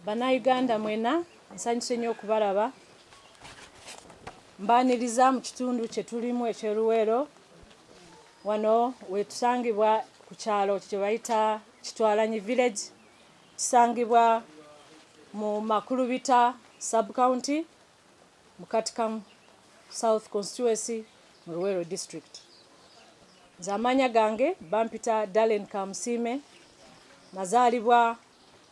Bannayuganda mwena nsanyuse nnyo okubalaba. Mbaaniriza mu kitundu kye tulimu eky'e Luweero. Wano we tusangibwa ku kyalo kye bayita Kitwalanyi Village. Kisangibwa mu Makulubita sub county mu Katikamu South constituency mu Luweero district. Nze amaanya gange bampita Dalen Kamusiime. Nazaalibwa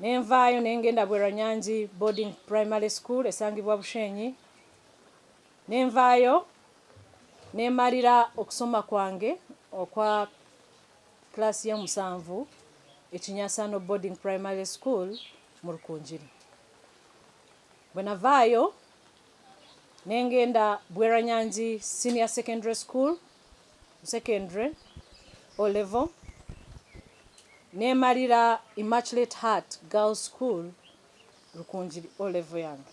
ne nvaayo ne ng'enda Bwerwanyangi Boarding Primary School esangibwa Bushenyi, ne nvaayo ne mmalira okusoma kwange okwa kkiraasi y'omusanvu e Kinyasano Boarding Primary School mu Rukungiri. Bwe navaayo ne ng'enda Bwerwanyangi Senior Secondary School, secondary o level nemalira immaculate heart girl school lukunjiri o level yange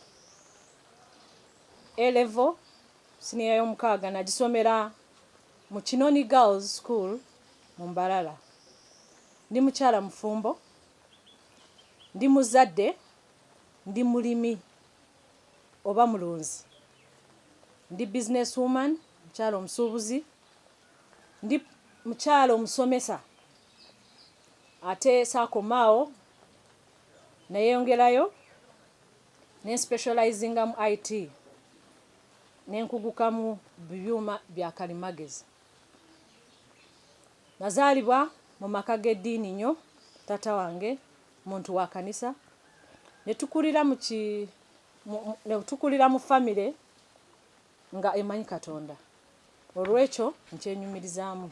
a level siniya yomukaaga nagisomera mu kinoni girls school mu mbalala ndi mukyala mufumbo ndi muzadde ndi mulimi oba mulunzi. Ndi business woman, mukyala omusuubuzi, ndi mukyala omusomesa ate saakoma awo nayeyongerayo ne nspecializinga mu IT ne nkuguka mu byuma bya kalimagezi. Nazaalibwa mu maka g'eddiini nnyo, taata wange muntu wa kanisa netukulira mu ki netukulira mu famire nga emanyi katonda olwekyo nkyenyumirizaamu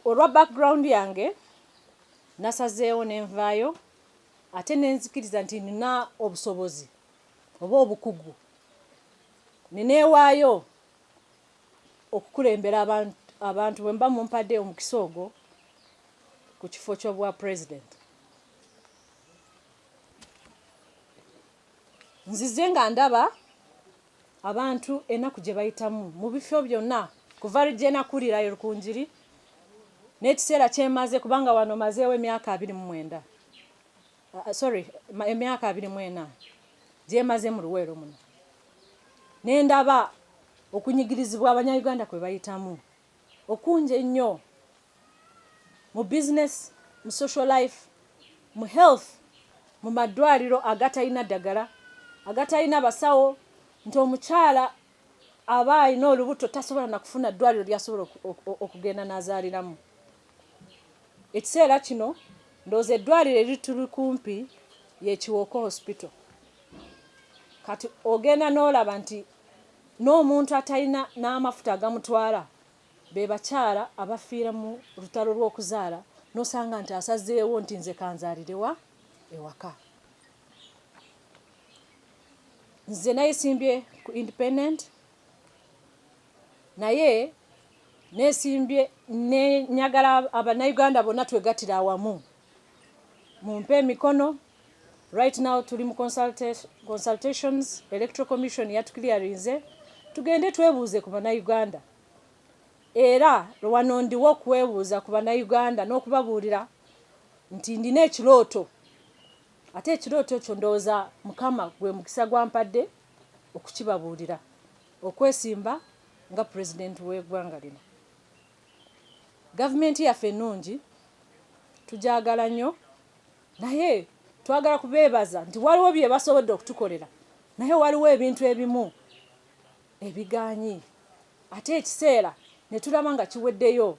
olwa background yange nasazeewo nenvaayo ate nenzikiriza nti nina obusobozi oba obukugu nineewaayo okukulembera abantu abantu bwe muba mumpadde omukisa ogwo ku kifo ky'obwa pulezidenti nzize nga ndaba abantu enaku gye bayitamu mu bifo byonna kuva lujje nakulira e Rukungiri n'ekiseera kyemaze kubanga wano mazeewo emyaka abiri mu mwenda uh, sorry emyaka abiri mu ena gyemaze mu luweero muno ne ndaba okunyigirizibwa abanyayuganda kwe bayitamu okungi ennyo mu bizinesi mu social life mu health mu maddwaliro agatalina ddagala agatalina basawo nti omukyala aba alina olubuto tasobola na kufuna ddwaliro ly'asobola okugenda n'azaaliramu. Ekiseera kino ndowooza eddwaliro erituli kumpi ye Kiwoko Hospital. Kati ogenda n'olaba nti n'omuntu atalina n'amafuta agamutwala be bakyala abafiira mu lutalo lw'okuzaala n'osanga nti asazeewo nti nze kanzaalirewa ewaka. nze nayesimbye ku independent naye nesimbye nenyagala abanauganda bonna twegatira awamu mumpe emikono right now tuli mu consultations electoral commission yatuclearinze tugende twebuuze ku banauganda era wano ndiwo okwebuuza ku banauganda n'okubabuulira nti ndina ekirooto Ate ekirooto kyo ndowooza Mukama gwe mukisa gwampadde okukibabuulira, okwesimba nga President w'egwanga lino. Government yaffe ennungi tugyagala nnyo naye twagala kubeebaza nti waliwo byebasobodde okutukolera naye waliwo ebintu ebimu, ebigaanyi ate ekiseera netulaba nga kiweddeyo,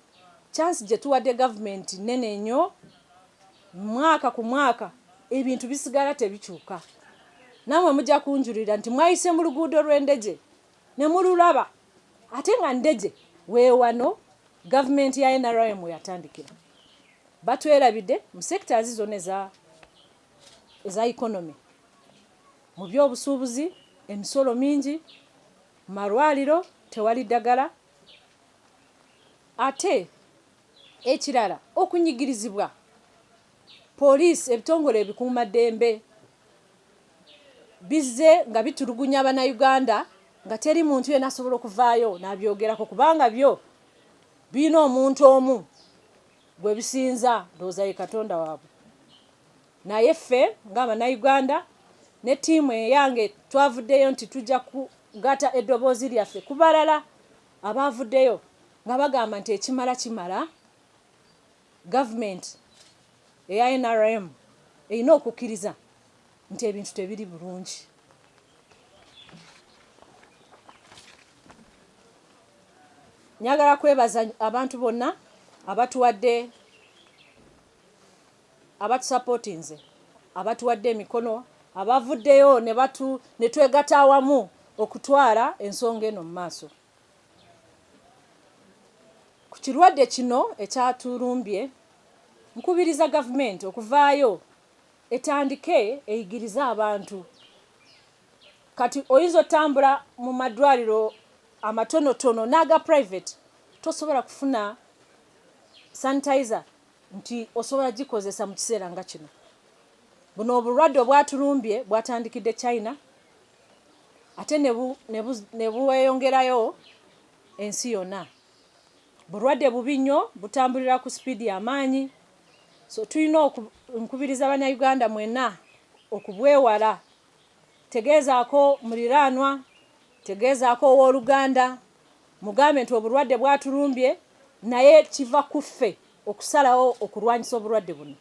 chance gyetuwadde government nnene nnyo, mwaka ku mwaka ebintu bisigala tebikyuka, namwe mujja kunjulira nti mwayise mu luguudo lwe Ndejje nemululaba ate nga Ndejje wewano government ya nrm weyatandikira, batwerabidde mu sectors zona eza eza economy mu by'obusuubuzi, emisolo mingi, mu malwaliro tewali ddagala ate ekirala okunyigirizibwa poliisi, ebitongole ebikuuma ddembe bizze nga bitulugunya Bannayuganda nga teri muntu yenna asobola okuvaayo n'abyogerako kubanga byo birina omuntu omu. Gwe bisinza ndowooza ye katonda wabwe naye ffe nga abanauganda ne tiimu eyange twavuddeyo nti tujja kugata eddoboozi lyaffe ku balala abaavuddeyo nga bagamba nti ekimala kimala government eya nrm erina okukkiriza nti ebintu tebiri bulungi. Njagala kwebaza abantu bonna abatuwadde abatusapotinze abatuwadde emikono abavuddeyo ne twegata awamu okutwala ensonga eno mu maaso ku kirwadde kino ekyatulumbye nkubiriza gavumenti okuvaayo etandike eyigirize abantu kati oyinza otambula mu madwaliro amatonotono n'aga private tosobola kufuna sanitizer nti osobola gikozesa mu kiseera nga kino buno obulwadde obwatulumbye bwatandikidde china ate ne bweyongerayo ensi yonna bulwadde bubi nnyo butambulira ku sipiidi amaanyi So tulina oku, nkubiriza Bannayuganda mwena okubwewala. Tegeezaako muliraanwa, tegeezaako ow'oluganda, mugambe nti obulwadde bwatulumbye naye kiva ku ffe okusalawo okulwanyisa obulwadde buno.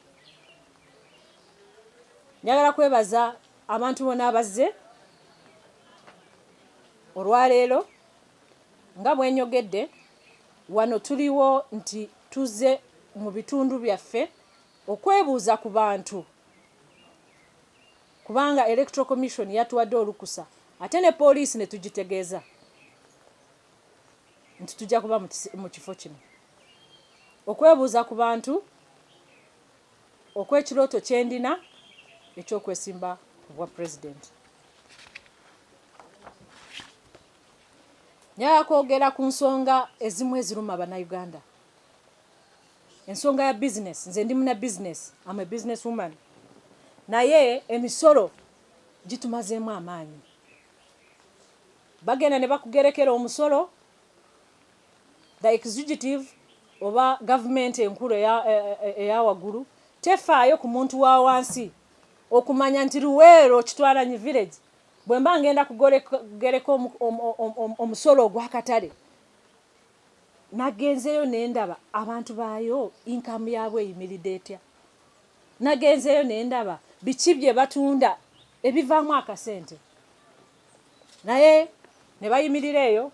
Njagala kwebaza abantu bona abazze olwaleero. Nga bwenyogedde wano tuliwo nti tuzze mu bitundu byaffe okwebuuza ku bantu kubanga Electoral Commission yatuwadde olukusa ate ne poliisi ne tugitegeeza nti tujja kuba mu kifo kino okwebuuza ku bantu okw'ekirooto kye ndina eky'okwesimba ku bwa pulezidenti. Njagala kwogera ku nsonga ezimu eziruma Bannayuganda. Ensonga ya bizinesi, nze ndi muna bizinesi, am a business woman, naye emisolo gitumazeemu amaanyi. Bagenda ne bakugerekera omusolo, the executive oba gavumenti enkulu eya e, e, waggulu tefaayo ku muntu wa wansi okumanya nti Luweero Kitwalanyi village Bwe mba ngenda kugereka omusolo ogw'akatale nagenzeeyo ne ndaba abantu baayo inkaamu yaabwo eyimiridde etya, nagenzeeyo ne ndaba biki bye batunda ebivaamu akasente, naye ne bayimirira eyo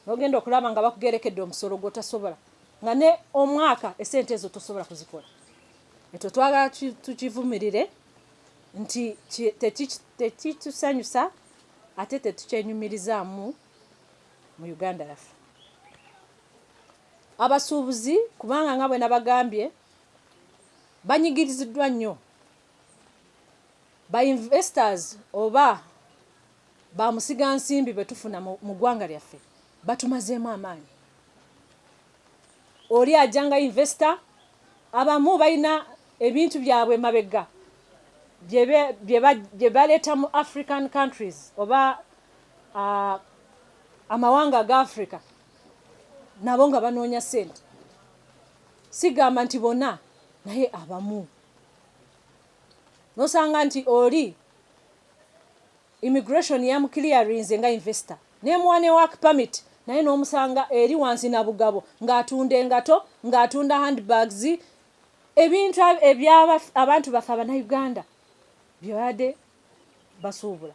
n'ogenda okulaba nga bakugerekedde omusolo gw'otasobola nga ne omwaka essente ezo tosobola kuzikola. Ekyo twagala tukivumirire. nti tekitusanyusa ate tetukyenyumirizaamu mu Uganda yaffe. Abasuubuzi kubanga nga bwe nabagambye banyigiriziddwa nnyo ba investors oba ba musiga nsimbi bwe tufuna mu ggwanga lyaffe batumazeemu amaanyi. Oli ajja nga investor, abamu balina ebintu byabwe emabegga bye baleeta mu African countries oba uh, amawanga aga Africa nabo nga banoonya sente. Sigamba nti bona naye abamu nosanga nti oli Immigration yamu clearinze nga investor nemuwa ne work permit naye nomusanga eri wansi nabugabo nga atunda engato nga atunda hand bags ebintu ebya abantu baffe abanauganda byebade basuubula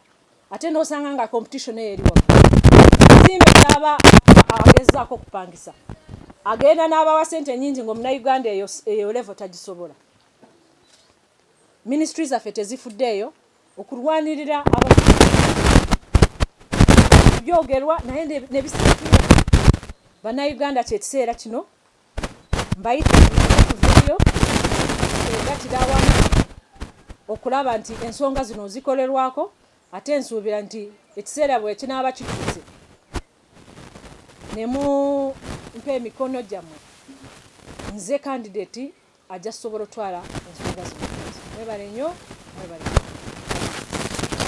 ate nosanga nga competition eyo eri waggulu zimbe kyaba agezaako okupangisa agenda n'abawa sente nyingi ngaomunauganda eyo levo tagisobola Minisitule zaffe tezifuddeeyo okulwanirira abavubuka. Byogerwa naye ne bisikira Bannayuganda ky'ekiseera kino mbayita tuveeyo twegattire awamu okulaba nti ensonga zino zikolerwako ate nsuubira nti ekiseera bwe kinaaba kituuse ne mumpa emikono gyammwe nze kandideti ajja sobola otwala ensonga zino. Mwebale nyo mwebale nyo.